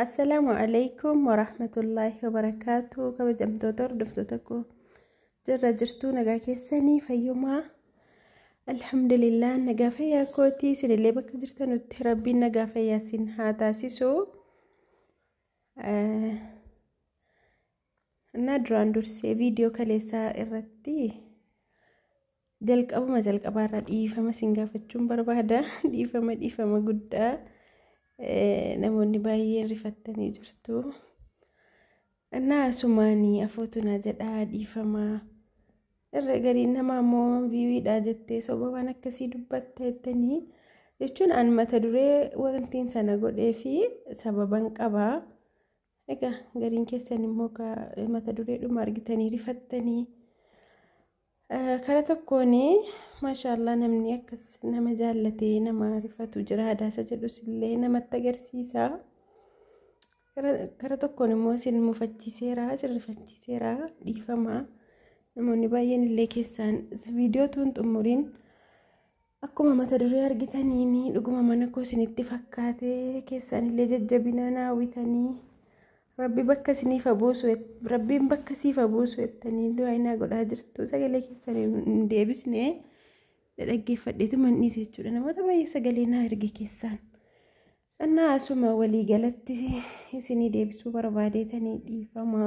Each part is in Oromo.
Assalaamu alaikum warahmatullaahi wabarakaatu kabajamtoota hordoftoota koo jirra jirtuu nagaa keessanii fayyumaa alhamdulillah nagaa fayyaa kootii isinillee bakka jirtanutti rabbiin nagaa fayyaa isin haa taasisu Innaa duraan dursee viidiyoo kaleessaa irratti jalqabuma jalqabaa irraa dhiifama sin gaafachuun barbaada. Dhiifama dhiifama guddaa namoonni baay'een rifattanii jirtu. Innaa asumaanii afootu naa jedhaa dhiifama. Irra gariin nama ammoo viiwiidhaa jettee soba waan akkasii dubbatta jettanii jechuun an mata duree wantiin sana godhee fi sababan qabaa. Egaa gariin keessan immoo mata dureedhuma argitanii rifattanii kara tokkoon maashaallah namni akkas nama jaallatee nama rifatu jira hadaasa jedhus illee namatti agarsiisa. Kara tokkoon immoo isin mufachiiseera isin rifachiiseera dhiifama namoonni baay'een illee keessaan viidiyoo tuun xumuriin. Akkuma mata duree argitaniin dhuguma mana koo isinitti fakkaate keessaanillee jajjabinaa naa hawwitanii rabbi bakka isiniif buusu rabbiin bakka siif buusu jettanii du'aa naa godhaa jirtu sagalee keessan hin deebisne dhaggeeffadheetu manniise jechuudha namoota baay'ee sagalee naa erge keessaan. Annaa asuma walii galatti isinii deebisuu barbaadeetanii dhiifama.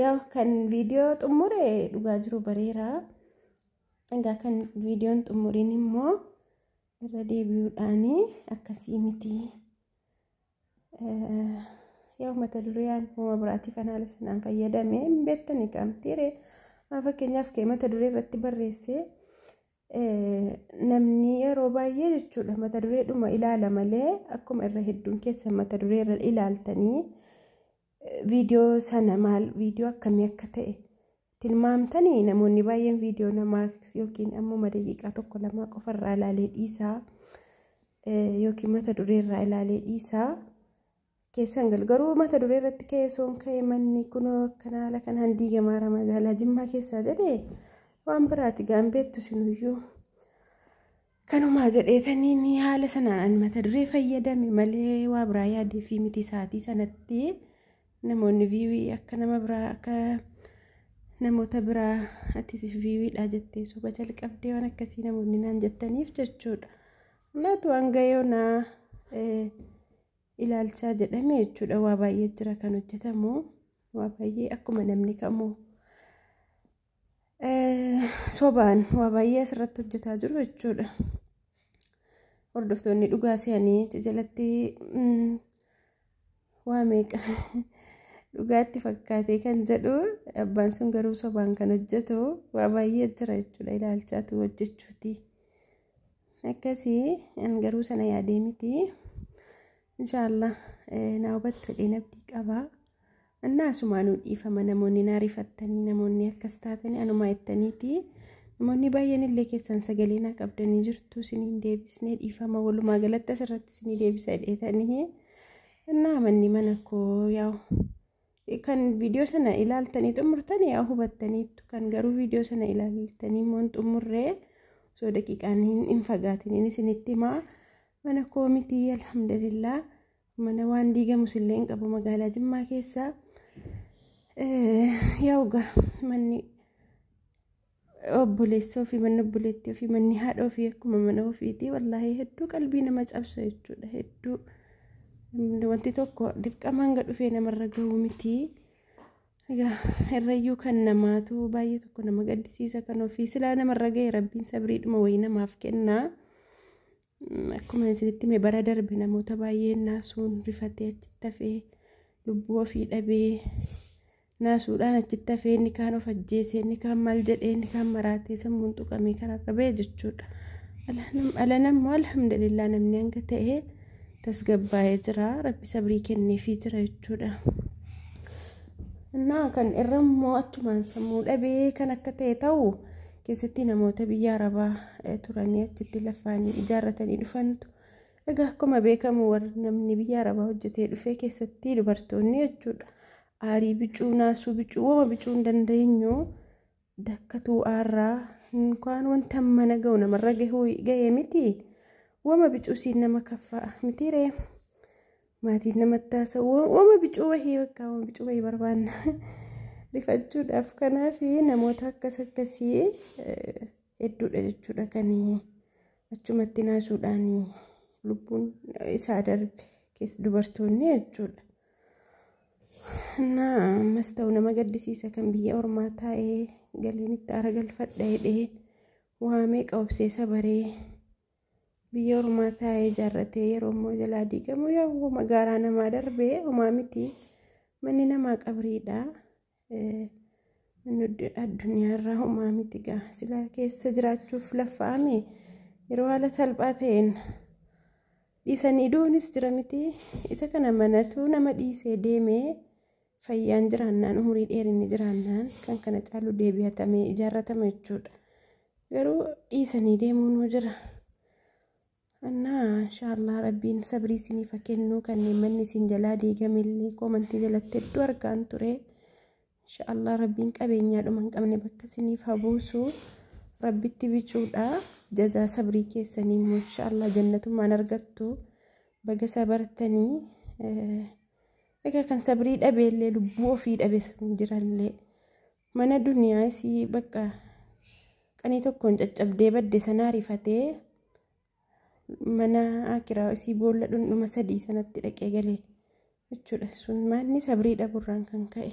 Yaa kan viidiyoo xumure dhugaa jiru bareera. Egaa kan viidiyoon xumuriin immoo irra deebi'uudhaan akkasii miti. Yoo mata dureen uuma biraatiif anaala sanaan fayyadame hin beektani qaamtiire. Fakkeenyaaf kee mata duree irratti barreessee namni yeroo baay'ee jechuudha mata dureedhuma ilaala malee akkuma irra hedduun keessa mata duree irra ilaaltanii viidiyoo sana maal viidiyoo akkamii akka ta'e tilmaamtanii namoonni baay'een viidiyoo namaa yookiin ammuma daqiiqaa tokko lamaa qofarraa ilaalee dhiisaa yookiin mata dureerraa ilaalee dhiisaa keessan galu garuu mata duree irratti ka'ee soon ka'ee manni kunoo akkana haala kanaan diigamaara magaalaa jimmaa keessaa jedhee waan biraati gaambeettu sinuyyuu. Kanumaa jedheetaniin haala sanaan an mata duree fayyadame malee waa biraa yaadee fi miti isaatii sanatti namoonni viiwii akka nama biraa akka namoota biraa atis viiwiidhaa jettee soba jalqabdee waan akkasii namoonni naan jettaniif jechuudha. Naatu hanga yoonaa ilaalchaa jedhame jechuudha waa baay'ee jira kan hojjetamu waa baay'ee akkuma namni kamuu. sobaan waa baay'ee asirratti hojjetaa jiru jechuudha. Hordoftoonni dhugaa se'anii achi jalatti waa meeqa dhugaatti fakkaatee kan jedhu abbaan sun garuu sobaan kan hojjetu waa baay'ee jira jechuudha ilaalchaatu hojjechuuti. Akkasii an garuu sana yaadee miti. Inshaallah naa hubattu dheen abdii qabaa. Annaa asumaanuu dhiifama namoonni naa rifattanii namoonni akkas taatanii anumaa ittaniiti namoonni baay'een illee keessan sagalee naa qabdanii jirtu isiniin deebisnee dhiifama walumaa galatti asirratti isinii deebisa jedheetanii annaa manni mana koo yaa'u kan viidiyoo sana ilaaltanii xumurtan yaa hubattaniittu kan garuu viidiyoo sana ilaaltanii immoo hin xumurree osoo daqiiqaan hin fagaatiniin isinitti himaa mana koo mitii alhamdulillah Mana waan diigamus illee hin qabu magaalaa Jimmaa keessaa. Yaa'uga manni obboleessoo fi manni obboleettii fi manni haadha ofii akkuma mana ofiitii wallaahi hedduu qalbii nama cabsa jechuudha hedduu wanti tokko dirqama hanga dhufee namarra gahu miti. Egaa irrayyuu kan namaatu baay'ee tokko nama gaddisiisa kan ofii silaa namarra gahe rabbiin sabriidhuma wayii namaaf kennaa. Akkuma isinitti hime bara darbe namoota baay'een naasuun rifatee achitti hafee lubbuu ofii dhabee naasuudhaan achitti hafee inni kaan of ajjeesee inni kaan maal jedhee inni kaan maraatee sammuun tuqamee karaa qabee jechuudha. Alanammoo alhamdulillah namni hanga ta'e tasgabbaa'ee jira rabbi sabrii kenneefii jira jechuudha. Innaa kan irra immoo achumaan sammuu dhabee kan akka ta'e ta'u. keessatti namoota biyya arabaa turanii achitti lafaanii ijaarratanii dhufantu egaa akkuma beekamu warri namni biyya arabaa hojjetee dhufee keessatti dubartoonni jechuudha aarii bicuu naasuu bicuu wama bicuu hin dandeenyu dakkatuu aarraa hinkaan wanta mana ga'u namarra ga'ee miti wama bicuu siin nama kaffaa mitiiree. Maatiin namatti haasa'u wama bicuu wahii bakka wama bicuu wahii barbaanna. Rifachuudhaaf kanaaf namoota akkas akkasii hedduudha jechuudha kan achumatti naasuudhaan lubbuun isaa darbe keessa dubartoonni jechuudha. Naa ammas ta'u nama gaddisiisa kan biyya ormaa taa'ee galiin itti aara galfadha jedhee waa meeqa obsee sabaree. biyya ormaa taa'ee ijaarratee yeroo immoo jalaa diigamu yoo magaalaa namaa darbee homaa miti manni namaa qabriidha addunyaarraa homaa miti gaa silaa keessa jiraachuuf laffa'ame yeroo haala salphaa ta'een dhiisanii du'uunis jira miti isa kana manatu nama dhiisee deemee Fayyaan jiraannaan, umurii dheerinni jiraannaan kan kana caalu deebi'atamee ijaarratama jechuudha. Garuu dhiisanii deemuunuu jira. Annaa inshaallah rabbiin sabrii isiniif haa kennu kanneen manni isin jalaa diigamellee koomantii jalatti hedduu argaan ture. Inshaallah rabbiin qabeenyaa dhuma hin qabne bakka isiniif haa buusu. Rabbitti bicuudha. Jazaa sabrii keessanii immoo inshaallah jannatummaan argattu. Baga sabartanii. Egaa kan sabrii dhabee illee lubbuu ofii dhabes hin jirallee mana duniyaa isii bakka qanii tokkoon caccabdee badde sanaa rifatee mana akiraa isii boolla dhundhuma sadii sanatti dhaqee galee jechuudha sun maanni sabrii dhaburraan kan ka'e.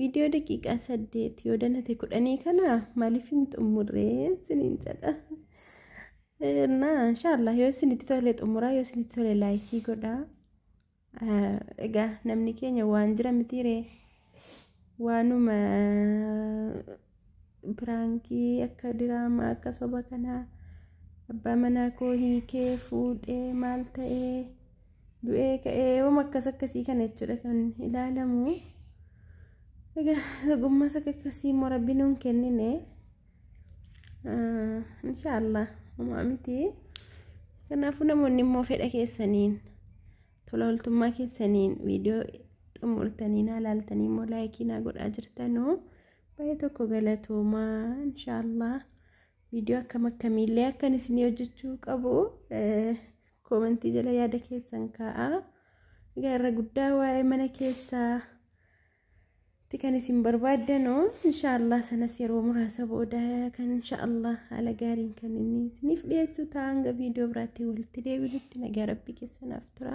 Viidiyoo daqiiqaa saddeet yoo danate kudhanii kana maaliif hin xumurree isiniin jedha. Na inshaallah yoo isinitti tole xumuraa yoo isinitti tole laayikii godhaa. Egaa namni keenya waan jira mitiiree waanuma Piraankii akka diraamaa akka soba kanaa abbaa manaa koo hiikee fuudhee maal ta'ee du'ee ka'ee yoom akkas akkasii kana jechuudha kan ilaalamu. Egaa dhugummaa isa akkasii immoo rabbi nuun kennine inshaallah homaa miti. Kanaafuu namoonni immoo fedha keessaniin tola ooltummaa keessaniin viidiyoo xumurtanii naa laaltanii immoo laayikii naa godhaa jirtanuu. Baay'ee tokko galatoomaa inshaallah viidiyoo akkam akkamiillee akkan isinii hojjechuu qabu koomentii jala yaada keessan kaa'a. Egaa irra guddaa waa'ee mana keessaa itti kan isin barbaaddanu inshaallah sanas yeroo muraasa booda kan inshaallah haala gaariin kan inni isiniif dhiyeessu ta'a hanga viidiyoo biraatti walitti deebinutti nagaa rabbii keessanaaf tura.